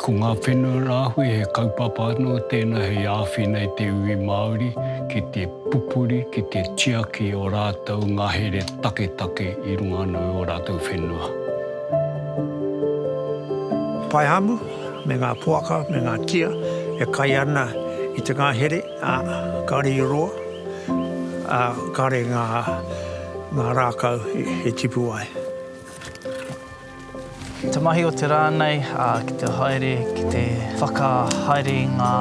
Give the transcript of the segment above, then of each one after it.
Ko ngā whenua rāhui he kaupapa anō tēnā hei āwhina i te iwi Māori ki te pupuri, ki te tiaki ō rātou ngahere taketake i runga anō i ō rātou whenua. Paehamu me ngā poaka me ngā tia e kai ana i te ngahere, ā, kāre i roa, ā, kāre ngā rākau e tipu ai. I te mahi o te rā nei, ki te haere, ki te whakahaere i ngā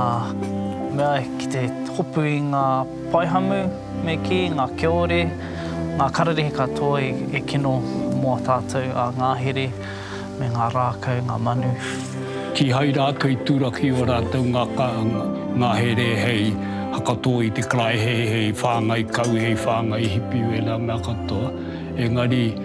mea, ki te hopu i ngā paehamu me kī, ngā kiore, ngā kararehe katoa e kino mō a tātou, a ngahere me ngā rākau, ngā manu. Kīhai rātou i turaki ō rātou ngaka, ngahere hei hakatō i te karaehe, hei whāngai kau, hei whāngai hipi, wēnā mea katoa. Engari.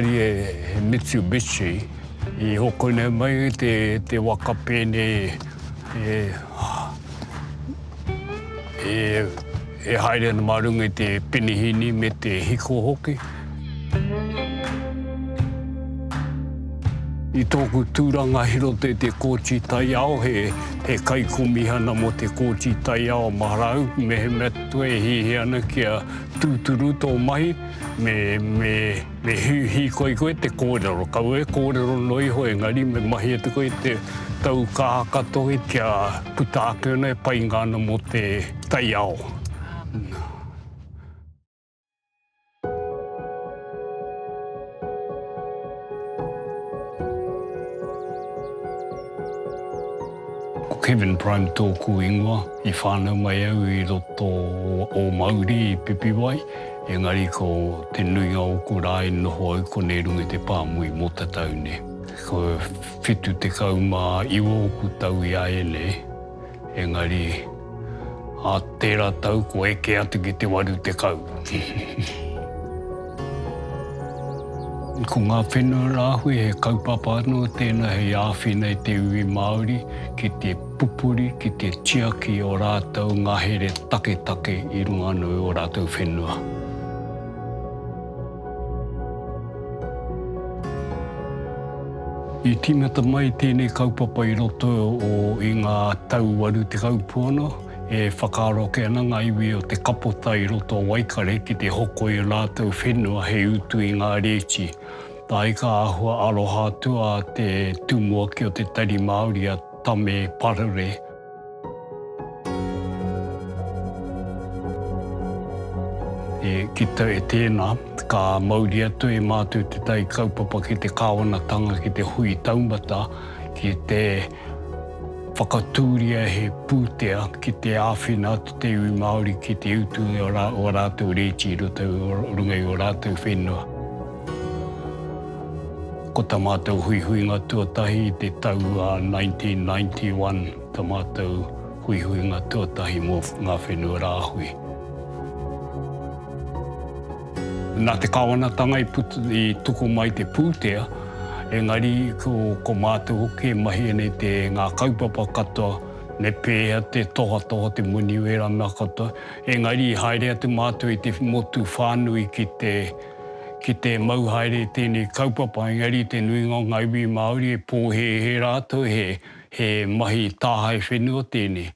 Engari e Mitsubishi i hoko nei mai te, te waka pēnei e, e, e E haere ana mā runga i te penehīni me te hiko hoki. I tōku tūranga he roto te Kōti Taiao, he he kaikomihana mō te Kōti Taiao mā rāu mehemea tō e hihi ana kia tūturu tō mahi me me hīkoi koe te kōrero kaua e kōrero noa iho engari me mahi atu koe te tau kaha katohi kia puta ake ana e painga ana mō te Taiao. Āmine. Ko Kevin Prime tōku ingoa. I whānau mai au i roto o Mauri i Pipiwai, engari ko te nuinga o oku rā i noho au ko Nērunga Te Pāmui mō te tau nei. Ko 79 oku tau i a e nei. Engari, ā tērā tau kua eke atu ki te waru tekau. Ko ngā whenua rāhui he kaupapa anō tēnā hei āwhina i te iwi Māori ki te pupuri, ki te tiaki i ō rātou ngahere taketake i runga anō i ō rātou whenua. I tīmata mai tēnei kaupapa i roto o i ngā tau waru tekau puana, e whakaaro ake ana ngā iwi o Te Kapota i roto o Waikare ki te hoko i o rātou whenua hei utu i ngā rēti. Tāika āhua aroha atu a te tumuaki o te Tari Māori a Tame Parore, E kita e tēnā, ka mauri atu e mātou te tai kaupapa ki te kāwanatanga, ki te hui taumata, ki te whakatūria he pūtea ki te āwhina atu te iwi Māori ki te utu i ō rātou rēti i roto i runga i ō rātou whenua. Ko tā mātou huihuinga tuatahi i te tau 1991 tā mātou huihuinga tuatahi mō ngā whenua rāhui. Nā te Kāwanatanga i tuku mai te pūtea, engari ko mātou hoki e mahi ana i te ngā kaupapa katoa, me pēhea te tohatoha, te muniwera, mea katoa. Engari i haere atu mātou i te motu whānui ki te Ki te mau haere tēnei kaupapa, engari i te nuinga o ngā iwi Māori e pōhēhē rātou, he, he mahi tāhae whenua tēnei.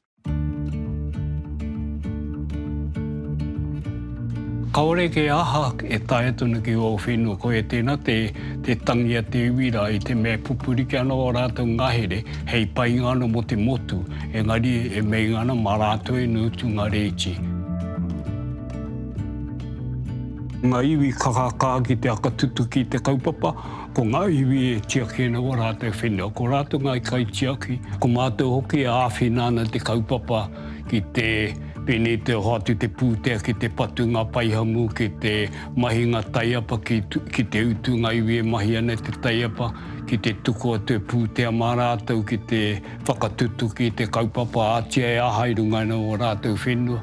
Kāore kē aha e taea tonu ki ō whenua, koia tēnā te, te tangi a te iwi rā, i te mea e pupuri ke ana ō rātou ngahere hei painga ana mō te motu, engari e meinga ana mā rātou e nū tū ngā rēti. Ngā iwi kakakā ki te aka tutuki i te kaupapa, ko ngā iwi e tiaki ana o rātou whenua, ko rātou ngā i kaitiaki, ko mātou hoki e āwhina ana te kaupapa ki te pēnei te hoatu te pūtea ki te patunga paihamu, ki te mahinga taiapa ki te utu ngā iwi e mahi ana te taiapa, ki te tuku atu e pūtea mā rātou ki te whakatutuki i te kaupapa ātia e aha i runga ana o rātou whenua.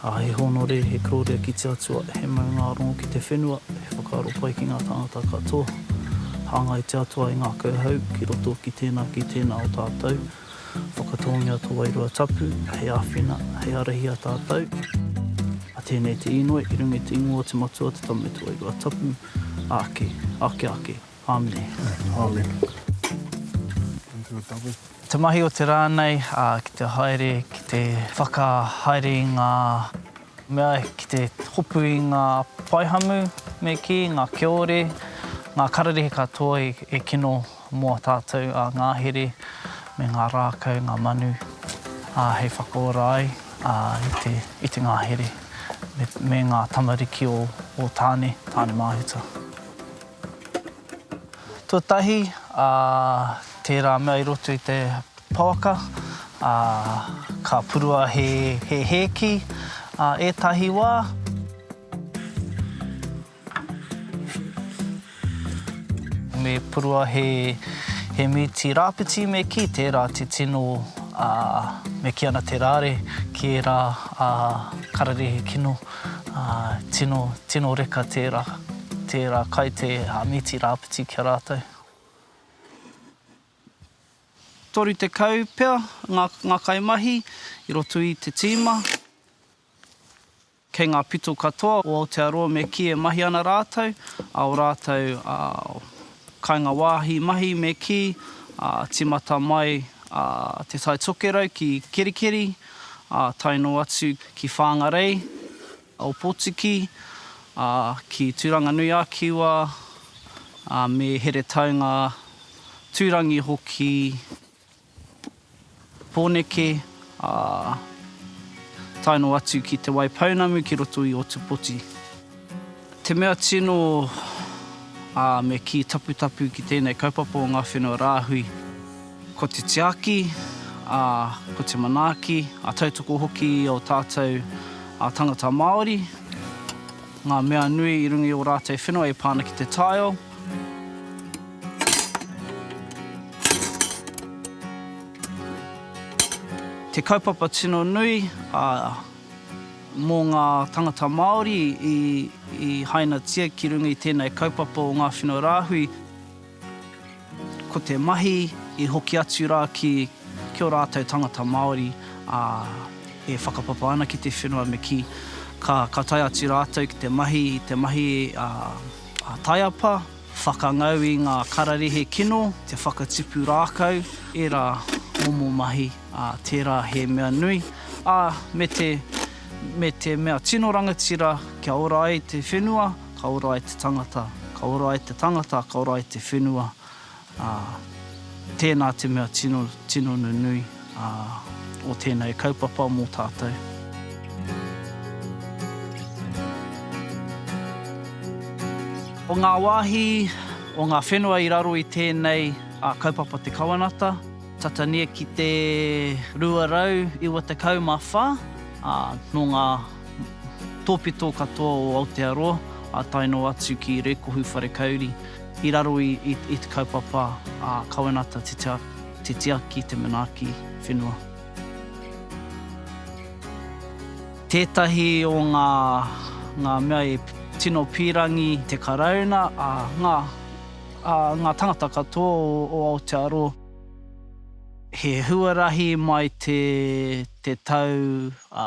Ā, he hōnore, he korōria ki te Atua, he maungārongo ki te whenua, he whakaaro pai ki ngā tāngata katoa. Hāngai te Atua i ngā kauhau ki roto ki tēnā, ki tēnā o tātou. Whakatōngia tō Wairua Tapu hei āwhina, hei ārahi i a tātou. A tēnei te inoi i runga i te ingoa o te Matua o te Tama me te Wairua Tapu, ake, ake ake. Amene. Amen. I te mahi o te rā nei, ki te haere, ki te whakahaere i ngā mea, ki te hopu i ngā paehamu me kī, ngā kiore, ngā kararehe katoa e kino Mō tātou a Ngāhere me ngā rākau, ngā manu, ā, hei whakaora ai, ā, i te, i te Ngāhere me, me ngā tamariki o, o Tāne, Tāne Māhuta. Tuatahi, ā, tērā mea i roto i te pouaka, ā, ka purua he, he hēki, ā, ētahi wā. Me purua he mīti rāwhiti me kī tērā te tino me kī ana te rāre ki ērā kararehe kino. Tino reka tērā kai te mīti rāwhiti ki a rātou. 30 pea ngā kaimahi i roto i te tīma. Kei ngā pito katoa o Aotearoa me kī e mahi ana rātou, ā, ō rātou kāinga wāhi mahi me kī, ā, tīmata mai Te Tai Tokerau ki Kerikeri, ā, tae noa atu ki Whāngarei, Ōpōtiki, ā, ki Tūranganui-a-Kiwa, ā, me Heretaunga-Tūrangi hoki. Pōneke, ā, tae noa atu ki Te Wai Pounamu ki roto i Ōtupoti. Te mea tino, ā, me kī taputapu ki tēnei kaupapa o ngā whenua rāhui, ko te tiaki, ā, ko te manaaki, ā, tautoko hoki i ō tātou tāngata Māori, ngā mea nui i runga i ō rātou whenua e pā ana ki te taiao. Te kaupapa tino nui mō ngā tangata Māori i hainatia ki runga i tēnei kaupapa o Ngā Whenua Rāhui, ko te mahi i hoki atu rā ki ō rātou tangata Māori e whakapapa ana ki te whenua me kī, ka tae atu rātou ki te mahi i te mahi taiapa. Whakangau i ngā kararehe kino, te whakatipu rākau, ērā momo mahi, ā, tērā he mea nui, ā, me te, me te mea tino rangatira, kia ora ai te whenua, ka ora ai te tangata, ka ora ai te tangata, ka ora ai te whenua, Ā, tēnā te mea tino, tino nunui, ā, o tēnei kaupapa mō tātou. O ngā wāhi, o ngā whenua i raro i tēnei kaupapa te Kawenata, tatania ki te 294, ā, nō ngā tōpito katoa o Aotearoa, ā tae noa atu ki Rēkohu Wharekauri. I raro i i te kaupapa a Kawenata te tiaki, te manaaki whenua. Tētahi o ngā ngā mea e tino pīrangi te Karauna, a ngā a ngā tangata katoa o o Aotearoa. He huarahi mai te te tau a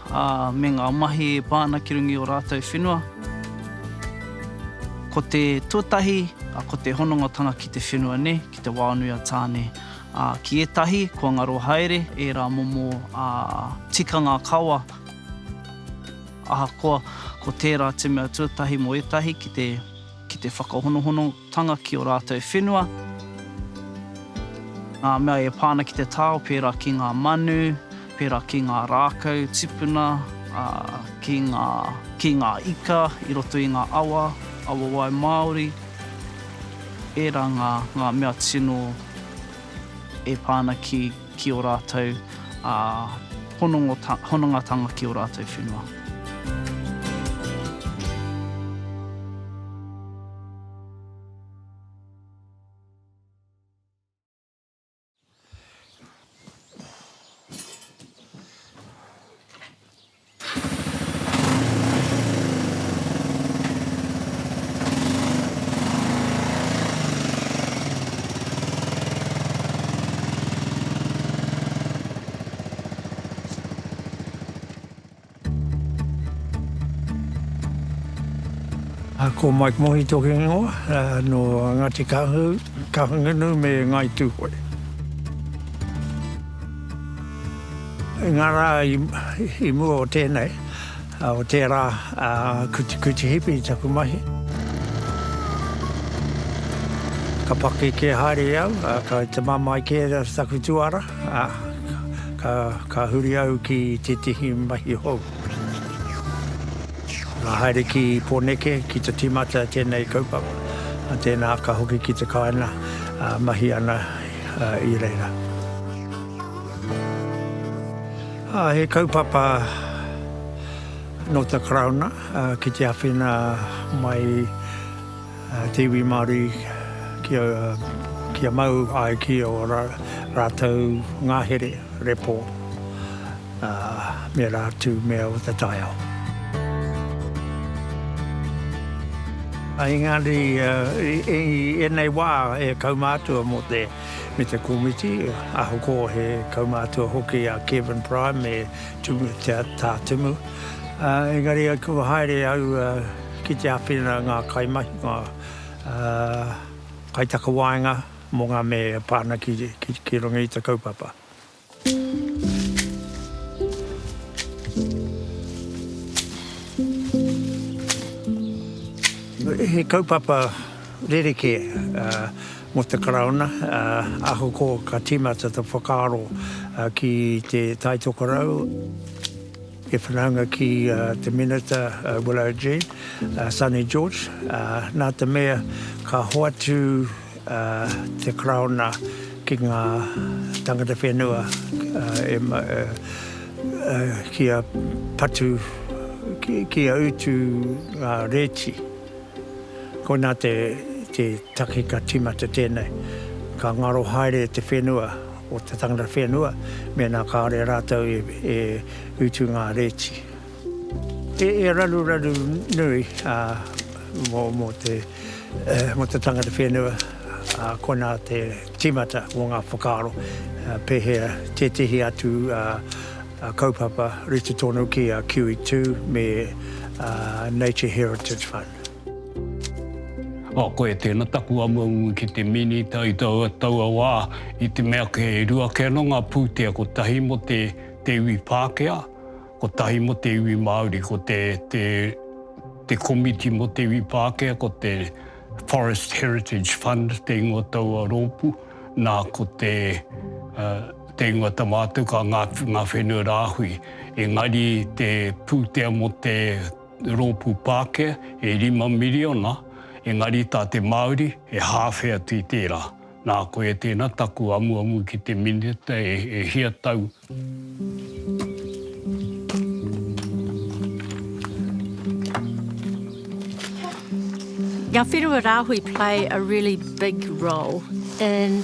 ā, me ngā mahi e pā ana ki runga i ō rātou whenua. Ko te tuatahi, ā, ko te honongatanga ki te whenua nei, ki te waonui a Tāne. Ā, ki ētahi, kua ngaro haere ērā momo, ā, tikanga kawa. Ahakoa, ko tērā te mea tuatahi mō ētahi ki te. ki te whakahonohonotanga ki ō rātou whenua, ngā mea e pā ana ki te tao, pērā ki ngā manu, pērā ki ngā rākau tipuna, ā, ki ngā, ki ngā ika i roto i ngā awa, awa wai māori, ērā ngā, ngā mea tino e pā ana ki. ki ō rātou honongatanga ki ō rātou whenua. Ko Mike Mohi toku ingoa, no Ngati Kahungunu me Ngai Tuhoe. I ngā rā i mua o tēnei, o tērā, ko te kutihipi i taku mahi. Ka pakeke haere au, ka te mamae kē taku tuara, ka huri au ki tētehi mahi hou. Ka haere ki Pōneke ki te tīmata tēnei kaupapa, tēnā ka hoki ki te kāinga mahi ana i reira. He kaupapa nō te Karauna ki te āwhina mai te iwi Māori kia mau ai ki ō rātou ngahere, repo me ērā atu mea o te taiao. Engari i ēnei wā e kaumātua mō te. me te komiti, ahakoa he kaumātua hoki a Kevin Pry me Tumu Tātumu, ā, engari kua haere au ki te āwhina ngā kaimahi, ngā kaitakawaenga mō ngā mea e pā ana ki runga i te kaupapa. He kaupapa rerekē mō te Karauna, aho ko ka tīmata te whakaaro ki te taitokerau. E whanaunga ki te Minita Willow Jean, Sonny George, nā te mea ka hoatu te Karauna ki ngā tangata whenua kia patu, kia utu ngā rēti. Koinā te take ka tīmata tēnei, ka ngaro haere te whenua. o te tangata whenua mēnā kāore rātou e utu ngā rēti. He raruraru nui mō te tangata whenua, ā, konā te tīmata mō ngā whakaaro pēhea tētehi atu kaupapa rite tonu ki a QE2 me Nature Heritage Fund. Oh, koe, tēna taku amuamu ki te Minita i taua, taua wā, i te mea kē, e rua kē anō ngā pūtea, kotahi mō te, te iwi Pākehā, kotahi mō te iwi Māori, ko te, te, te komiti mō te iwi Pākehā, ko te Forest Heritage Fund, te ingoa o taua rōpū, nā, ko te, te ingoa tā mātou, kā ngā, ngā whenua rāhui. Engari te pūtea mō te, rōpū Pākehā e rima miriona, engari tā te Māori he hāwhe atu i tērā. Nā, koia tēnā taku amuamu ki te Minita e hia tau. Ngā whenua rāhui play a really big role in.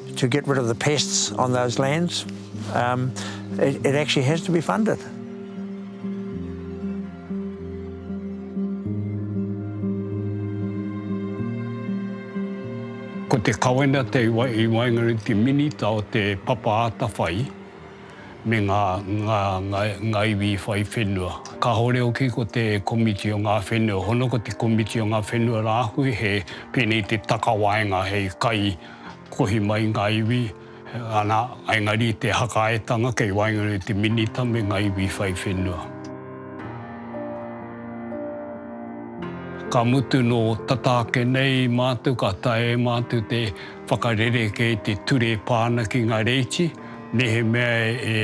to get rid of the pests on those lands, um, it, it actually has to be funded. Ko te kawena te iwa, i waengariti minita o te papa atawhai me ngā, ngā, ngā, ngā iwi whai whenua. Ka hore oki ko te komiti o ngā whenua, hono ko te komiti o ngā whenua rāhui he pēnei te takawaenga hei kai Kohi mai ngā iwi, ana, engari i te hakaetanga kei waenganui i te Minita me ngā iwi whai whenua. Ka mutu nō tata ake nei mātou ka taea e mātou te whakarerekē te ture e pā ana ki ngā reiti, mehemea e.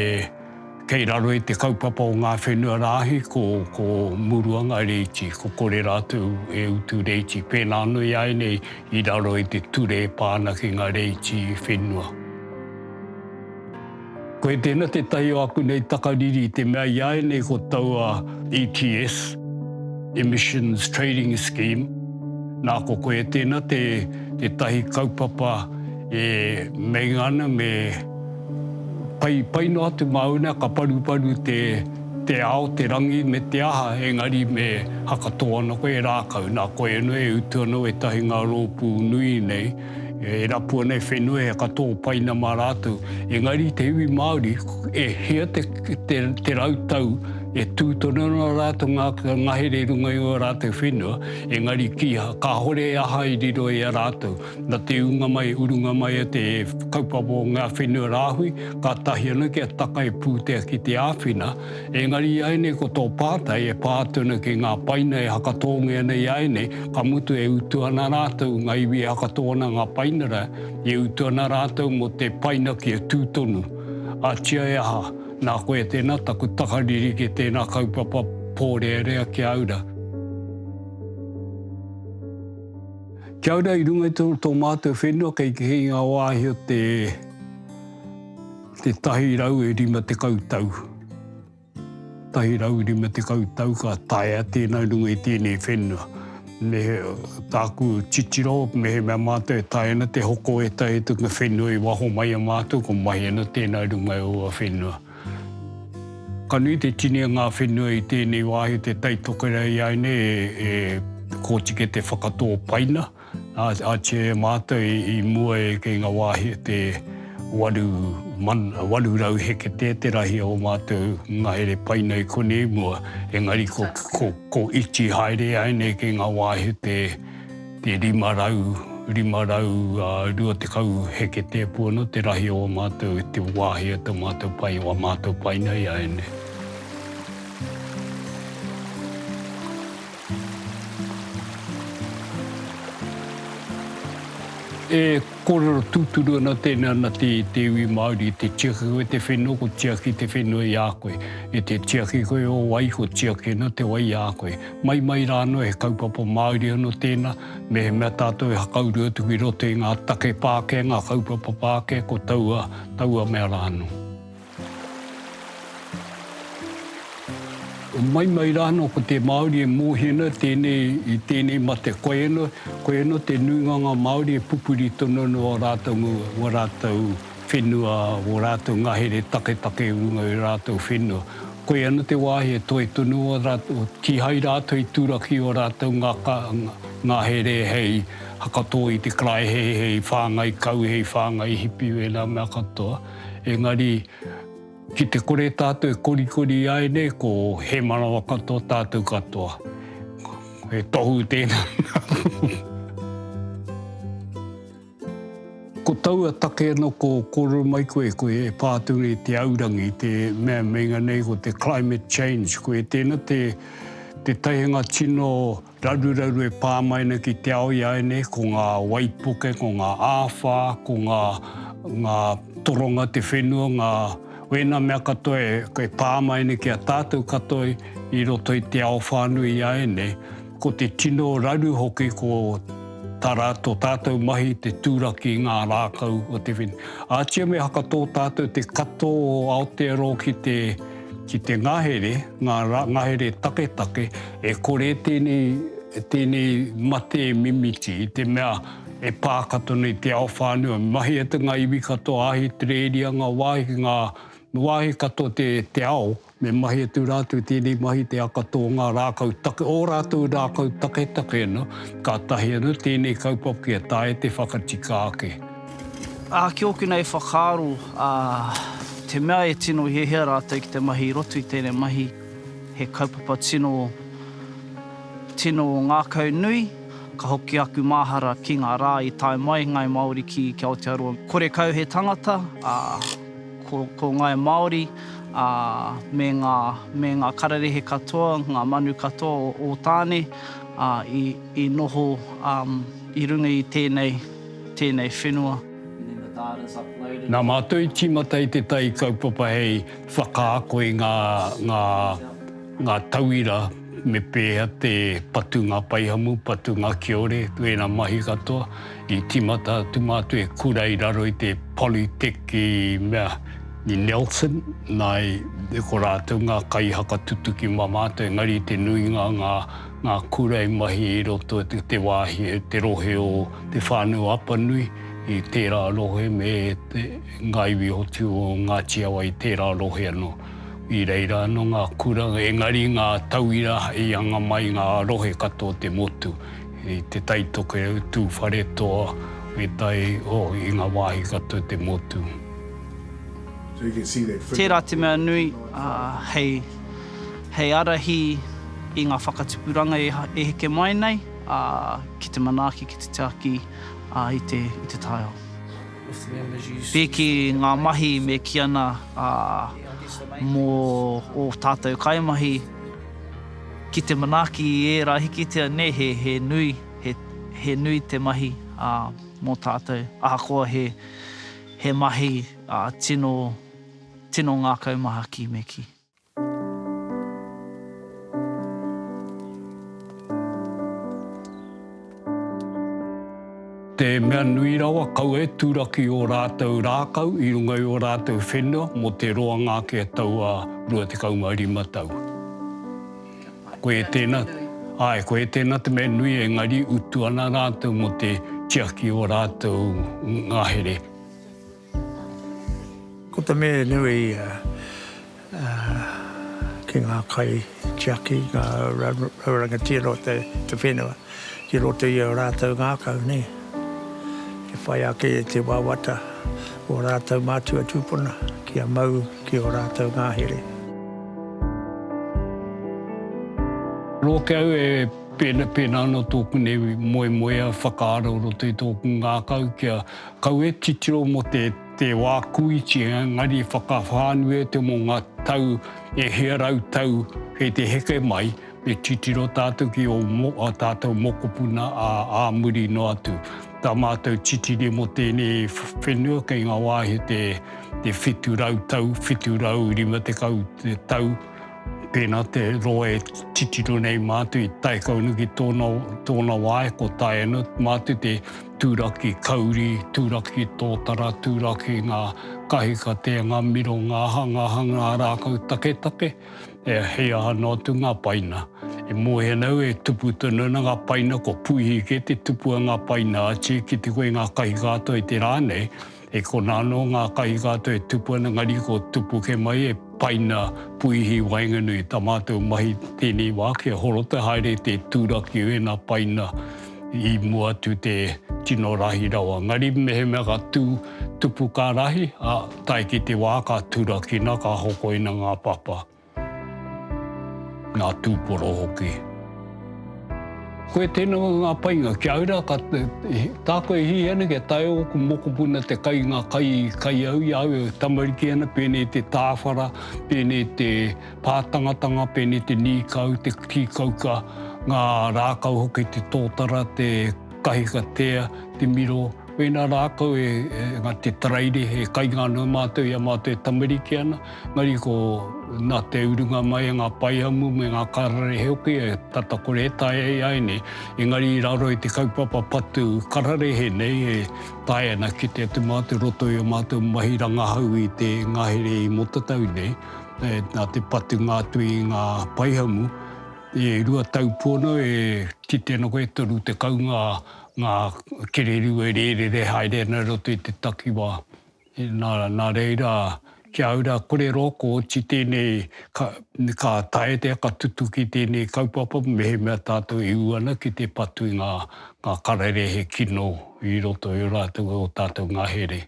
Kei raro i te kaupapa o ngā whenua rāhi ko, ko Muruanga Reiti, ko kore rātou e utu Reiti, pēnā anō i a ia nei i raro i te ture e pā ana ki ngā Reiti whenua. Koe tēnā tētahi o aku nei takariri i te mea i a ia nei ko taua ETS, Emissions Trading Scheme, nā ko koe tēnā te, tētahi kaupapa e meinga ana me Pai, pai noa atu māuna ka paruparu te, te ao, te rangi me te aha, engari me hakatō ana koe e rākau, nā koe anō e utu ana wētahi ngā rōpū nui nei, e rapu ana e whenua, he hakatō paina mā rātou. Engari te iwi Māori, e hia te, te, te rau tau, e tū tonu ana ō rātou ngā, ngahere i runga i ō rātou whenua, engari ki, kāore e aha i riro i a rātou. Na te unga mai, urunga mai e te kaupapa o nga whenua rahui, katahi ana kia takai putea ki te awhina, engari i ainei ko to patai e pa atu ana ki nga paina e hakatongi ana i ainei, ka mutu e utu ana ratou, nga iwi e hakato ana nga painara, e utu ana ratou mo te paina kia tu tonu. Atia e aha, na koe tena taku takariri ki tena kaupapa porearea ki a ura. Kia ora i runga i te tō mātou whenua kei kei ngā wāhi o te te tahi rau e rima te kau tau. Tahi rau e rima te kau tau ka taea tēnā runga i tēnei whenua. Me he tāku titiro, me he mea mātou e tae ana te hoko e tae atu ngā whenua i waho mai a mātou ko mahi ana tēnā runga e ua whenua. Ka nui te tini a ngā whenua i tēnei wāhi o Te Tai Tokerauiaene e kōtike te whakatō paina ātia e mātou i mua e kei ngā wāhi o te 800 heketē te rahi o ō mātou ngahere paina i konei i mua, engari ko iti haere ai nei kei ngā wāhi o te. E 500, 520 heke tēpu anō te rahi o ō mātou te wāhi o tō mātou pae, o ā mātou pae nei, āianei. E kōrero tūturu ana tēnā ana te iwi Māori, e te tiaki koe te whenua, ko tiaki te whenua i a koe. E te tiaki koe o wai, ko tiaki ana te wai i a koe. Mai mai rā anō he kaupapa Māori anō tēnā, me he mea tātou e hakauru atu ki roto i ngā take Pākehā, ngā kaupapa Pākehā, ko taua, taua mea rā anō. Mai mai rā anō ko te Māori e mōhio ana tēnei, i tēnei mate, koe anō, koe anō te nuinga o ngā Māori e pupuri tonu ana o ā rātou, o ā rātou. whenua, ō rātou ngahere taketake i runga i ō rātou whenua. Koia ana te wāhi e toe tonu ō rātou, kīhai rātou i turaki ō rātou ngahere hei hakatō i te karaehe, hei whāngai kau, hei whāngai hipi me ngā mea katoa. Engari, ki te kore tātou e korikori ai nei, ko hēmanawa katoa tātou katoa. He tohu tēnā. Ko taua take ano ko korero mai koe koe e pa atu nei te aurangi te mea meinga nei ko te climate change koe tena te te taihenga tino raruraru e pa mai ana ki te ao iae nei ko nga waipuke ko nga awha ko nga nga toronga te whenua nga wena mea katoa e pa mai ana ki a tatou katoa i roto i te ao whanui iae nei. Ko te tino raru hoki ko tā rā, tō tātou mahi te tūraki i ngā rākau o te wheni. Ātia me hakatō tātou te kato o Aotearoa ki te, ki te ngahere, ngā rā, ngahere taketake, e kore tēnei, tēnei mate e mimiti i te mea e pā katoa nei te ao whānui. Me mahia te ngā iwi katoa, Ahitereiria, ngā wāhi, ngā wāhi katoa te, te ao, Me mahi atu rātou tēnei mahi te aka tō ngā rākau take, ō rātou rākau taketake ana, kātahi anō tēnei kaupapa kia taea te whakatika ake. Āke ōku nei whakaaro, ā, te mea e tino hiahia rātou ki te mahi i roto i tēnei mahi, he kaupapa tino, tino ngākau nui, ka hoki aku māhara ki ngā rā i tae mai Ngāi Māori ki Aotearoa. Kore kau he tangata, ā. Ko ngāi Māori me ngā kararehe katoa, ngā manu katoa o Ōtāne i noho i runga i tēnei whenua. Nā mātou i tīmata i te tai kaupapa hei whakaako i ngā tauira. Me pēhea te patunga paihamu, patunga kiore, ēnā mahi katoa i tīmata atu mātou e kura i raro i te Polytech i mea, i Nelson, nā, e ko rātou ngā kaihakatutuki mā mātou, engari i te nuinga ngā, ngā kura i mahi i roto i te, te wāhi, te rohe o Te Whānau-a-Apanui, i tērā rohe me ngā iwi hoki o Ngāti Awa i tērā rohe anō. I reira ano nga kura, engari nga tauira i anga mai nga rohe katoa te motu, i te Tai Tokerau, Tuwharetoa, me tai, oh, i nga wahi katoa te motu. Tera te mea nui, hei, hei arahi i nga whakatupuranga e heke mai nei, ki te manaaki, ki te tiaki i te, i te taiao. Pēki ngā mahi me kī ana mō ō tātou kaimahi ki te manaaki i ērā hikitia nei he nui, he nui te mahi mō tātou ahakoa he mahi tino ngākau maha kī me kī. Te mea nui rawa, kaua e turaki ō rātou rākau i runga i ō rātou whenua mō te roanga ake e taua 25 tau. Koe tēnā, āe, koe tēnā te mea nui engari utu ana rātou mō te tiaki i ō rātou ngahere. Ko te mea e nui ia ki ngā kai tiaki, ngā rangatira o te whenua, ki roto i ō rātou ngākau nei, e whai ake te wawata o ō rātou mātua tūpuna kia mau ki ō rātou ngahere. Roke au e pēnā anō tōku nei moemoea whakaaro roto i tōku ngākau kia Kaue titiro mo te te wa kuiti engari whakawhanuete mo nga tau e hea rau tau kei te heke mai me titiro tatou ki o a tatou mokopuna a a muri no atu ta matou titiri mo tenei whenua kei nga wahi o te te whitu rau tau whitu rau rima tekau tau pena te roa e titiro nei matou i tae kau ana ki tona tona wae ko tae ana matou te Tūraki kauri, tūraki tōtara, tūraki ngā kahika tē, ngā miro, ngā hangaha, ngā rākau taketake, hei aha noa atu ngā paina. E mōhia au e tupu tonu ana ngā paina, kua puihi kē te tupu a ngā paina atu ki te koe i ngā kahika atoiti rānei, E konā anō ngā kai i kā tō e tupu ana, engari ko tupu kē mai e paina puihi waenganui tā mātou mahi tēnei wā kia horote haere te tūraki ēnā paina i mua atu te tino rahi rawa. Engari mehemea ka tū tupu kā rahi, a tae ki te wā ka tūrakina, ka hokoina ngā papa. Ngā tūporo hoki. Koe tēnā o ngā painga, kia ora, tā koe e hī ana kia tae ōku mokopuna te kai i ngā kai i kai au i a au e tamariki ana, pēnei te tāwhara, pēnei te pātangatanga, pēnei te nīkau, te tīkauka, ngā rākau hoki, te tōtara, te kahika tea, te miro, ēnā rākau e, te taraire, e kainga ana mātou i a mātou e tamariki ana. Engari ko nā te urunga mai e ngā paeamu me ngā kararehe hoki e tata kore e taea e ai nei, engari i raro i te kaupapa patu kararehe nei e taea ana ki te atu mātou roto i ō mātou mahi rangahau i te ngahere i Motatau nei, nā te patunga atu i ngā paehamu. E rua tau pono e kite ana koe e toru tekau ngā kererū e rērere haere ana i roto i te takiwā. Nā reira, ki a ura kore rōko, oti tēnei ka taea te ka tutuki tēnei kaupapa mehemea tātou e ū ana ki te patu i ngā kararehe kino i roto i ō rātou, ō tātou ngahere.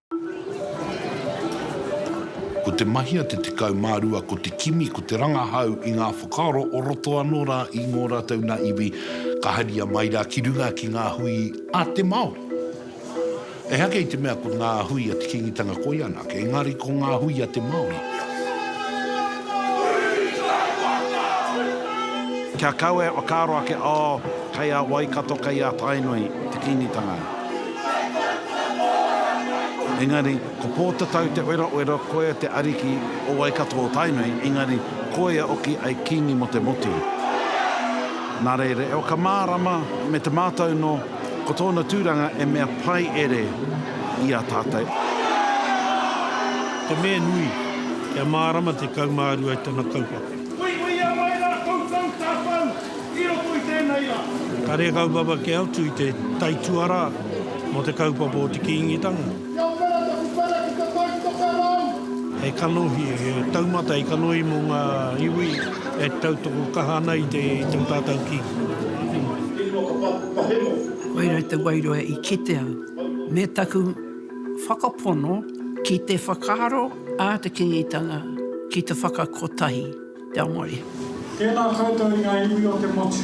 Ko te mahi a te tekau mā rua ko te kimi, ko te rangahau i ngā whakaaro o roto anō rā i ngō rātou nā iwi ka haria mai rā ki runga ki ngā hui a te Māori. He hake i te mea ko ngā hui a te Kīngitanga koi anake, engari ko ngā hui a te Māori. Kia kaua e whakaaro ake, oh, kei a Waikato, kei a Tainui te Kīngitanga. Engari, ko Pōtatau te werawera koia te ariki o Waikato o Tainui, engari, koia oki ai Kingi mo te motu. Na reira, e waka mārama me te mātau no, ko tōna tūranga e mea pai ere i a tātau. Te mea nui, kia mārama te kaumāru ai tana kaupapa. Waihoia mai rā koutou tātau! I roto i tēnei rā. Kare kaupapa kei atu i te taituarā mō te kaupapa o Te Kīngitanga. Ki a Pera taku whare ki te tautoko rānei. Hei kanohi, he taumata hei kanohi mō ngā iwi e tautoko kaha ana i te o tātou kī. He ingoa ka papahemo. Koia nei te wairua i kite au. Me taku whakapono ki te whakaaro a Te Kīngitanga ki te whakakotahi. Te Angari. Tēnā koutou i ngā iwi o te motu.